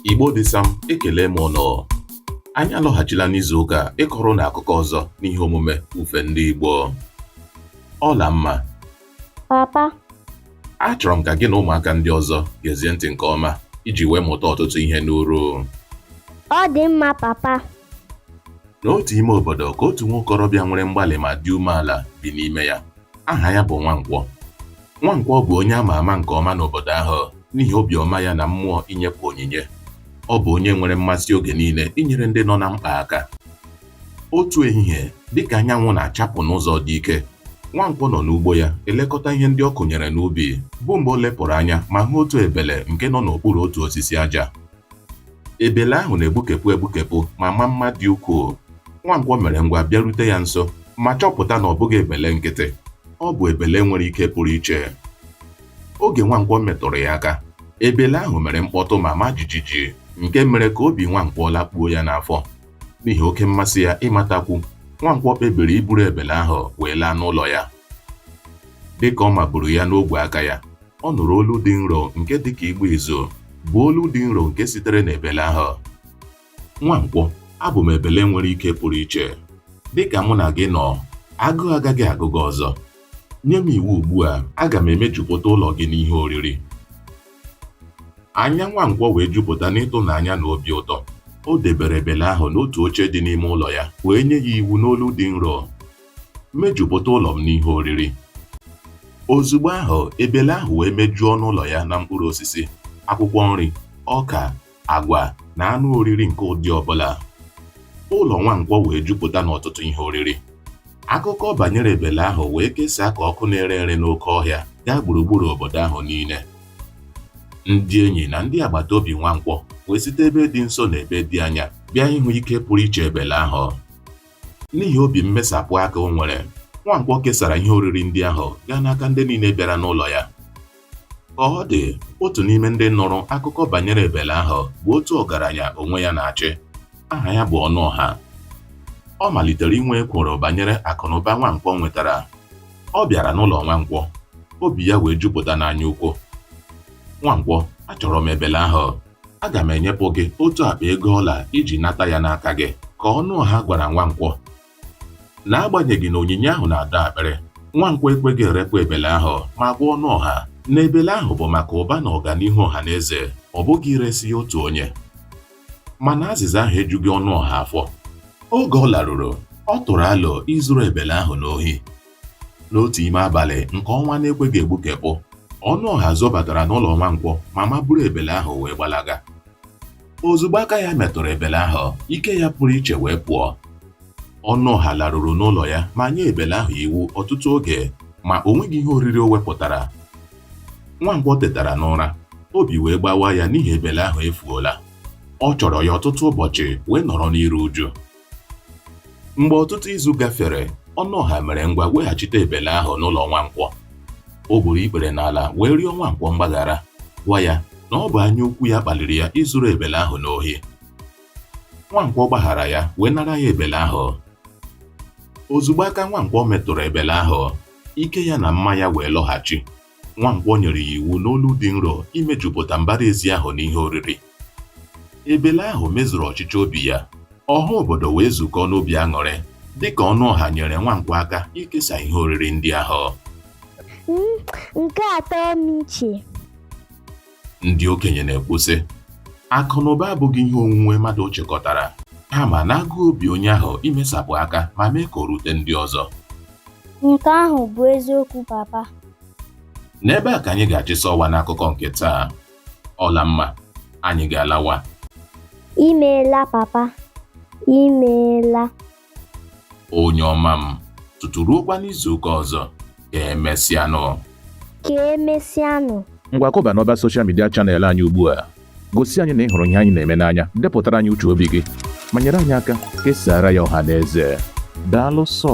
Igbo dị sam ekelee m ụnụ anyị alọghachila n'izu ụka a ịkọrọ ụnụ akụkọ ọzọ n'ihe omume ufe ndị Igbo Ọlamma papa achọrọ m ka gị na ụmụaka ndị ọzọ gezie ntị nke ọma iji wee mụta ọtụtụ ihe n'uru ọ dị mma papa n'otu ime obodo ka otu nwa okorobịa nwere mgbalị ma dị umeala bi n'ime ya Aha ya bụ Nwankwọ. Nwankwọ bụ onye ama ama nke ọma n'obodo ahụ n'ihi obiọma ya na mmụọ inyepụ onyinye. Ọ bụ onye nwere mmasị oge niile inyere ndị nọ na mkpa aka. Otu ehihie, dịka anyanwụ na-achapụ n'ụzọ dị ike, Nwankwọ nọ n'ugbo ya elekọta ihe ndị ọ kụnyere n'ubi, bụ mgbe o lepụrụ anya ma hụ otu ebele nke nọ n'okpuru otu osisi aja. Ebele ahụ na-egbukepụ egbukepụ ma maa mma dị ukwuu. Nwankwọ mere ngwa bịarute ya nso ma chọpụta na ọ bụghị ebele nkịtị. Ọ bụ ebele nwere ike pụrụ iche. Oge Nwankwọ metụrụ ya aka, ebele ahụ mere mkpọtụ ma maa jijiji nke mere ka obi Nwankwọ lakpuo ya n'afọ. N'ihi oke mmasị ya ịmatakwu, Nwankwọ kpebiri iburu ebele ahụ wee laa n'ụlọ ya. Dịka ọ maburu ya n'ogwe aka ya, ọ nụrụ olu dị nro nke dị ka ịgba izu, bụ olu dị nro nke sitere n'ebele ahụ. Nwankwọ, abụ m ebele nwere ike pụrụ iche. Dịka mụ na gị nọ, agụụ agaghị agụ gị ọzọ. Nye m iwu ugbu a, aga m emejupụta ụlọ gị n'ihe oriri. Anya Nwankwọ wee jupụta n'ịtụnanya na obi ụtọ. O debere ebele ahụ n'otu oche dị n'ime ụlọ ya, wee nye ya iwu n'olu dị nro. Mejupụta ụlọ m n'ihe oriri. Ozugbo ahụ, ebele ahụ wee mejuo ọnụ ụlọ ya na mkpụrụ osisi, akwụkwọ nri, ọka, agwa, na anụ oriri nke ụdị ọ bụla. Ụlọ Nwankwọ wee jupụta n'ọtụtụ ihe oriri. Akụkọ banyere ebele ahụ wee kesaa ka ọkụ na-ere ere n'oke ọhịa gaa gburugburu obodo ahụ niile. Ndị enyi na ndị agbata obi Nwankwọ wee site ebe dị nso na ebe dị anya bịa ịhụ ike pụrụ iche ebele ahụ. N'ihi obi mmesapụ aka o nwere, Nwankwọ kesara ihe oriri ndị ahụ gaa n'aka ndị niile bịara n'ụlọ ya. Ka ọ dị, otu n'ime ndị nụrụ akụkọ banyere ebele ahụ bụ otu ọgaranya onwe ya na-achị. Aha ya bụ Ọnụọha. Ọ malitere inwe ekworo banyere akụnụba Nwankwọ nwetara. Ọ bịara n'ụlọ Nwankwọ, obi ya wee jupụta n'anyaukwu. Nwankwọ, achọrọ m ebele ahụ. aga m enyepụ gị otu akpa ego ọla iji nata ya n'aka gị ka Ọnụọha gwara Nwankwọ n'agbanyeghị na onyinye ahụ na-adọ akpịrị Nwankwọ ekweghị erepụ ebele ahụ ma gwa Ọnụọha na ebele ahụ bụ maka ụba na ọganihu ọha na eze ọ bụghị iresi ya otu onye mana azịza ahụ ejughị Ọnụọha afọ oge ọ laruru ọ tụrụ alo izuru ebele ahụ n'ohi N'otu ime abalị nke ọnwa na-ekweghị egbukepụ, Ọnụọha zobatara n'ụlọ Nwankwọ ma maburu ebele ahụ wee gbalaga. Ozugbo aka ya metụrụ ebele ahụ, ike ya pụrụ iche wee pụọ. Ọnụọha laruru n'ụlọ ya ma nye ebele ahụ iwu ọtụtụ oge ma o nweghị ihe oriri o wepụtara. Nwankwọ tetara n'ụra, obi wee gbawa ya n'ihi ebele ahụ efuola. Ọ chọrọ ya ọtụtụ ụbọchị wee nọrọ n'iru uju. Mgbe ọtụtụ izu gafere, Ọnụọha mere ngwa weghachite ebele ahụ n'ụlọ Nwankwọ. O gburu ikpere n'ala wee rịọ Nwankwọ mgbaghara, gwa ya na ọ bụ anya ukwu ya kpaliri ya izuru ebele ahụ n'ohi. Nwankwọ gbaghara ya wee nara ya ebele ahụ. Ozugbo aka Nwankwọ metụrụ ebele ahụ, ike ya na mma ya wee lọghachi. Nwankwọ nyere ya iwu n'olu dị nro imejupụta mbara ezi ahụ n'ihe oriri. Ebele ahụ mezuru ọchịchọ obi ya, ọha obodo wee zukọọ n'obi aṅụrị dịka Ọnụọha nyere Nwankwọ aka ikesa ihe oriri ndị ahụ. M, Nke a tọọ m iche. Ndị okenye na-ekwu sị, akụ na ụba abụghị ihe onwunwe mmadụ chịkọtara, kama n'agụụ obi onye ahụ imesapụ aka ma mee ka o rute ndị ọzọ. Nke ahụ bụ eziokwu papa. N'ebe a ka anyị ga-achịsa ọwa n'akụkọ nke taa. Ọlamma, anyị ga-alawa. Imeela papa, imeela. onye ọma m tutu ruokwa n'izuụka ọzọ ka emesịanụ ka emesịanụ ngwa kụba n'ọba soshal midia chanel anyị ugbu a gosi anyị na ị hụrụ ihe anyị na-eme n'anya depụtara anyị uche obi gị ma nyere anyị aka kesaara ya ọha na eze daalụ sọ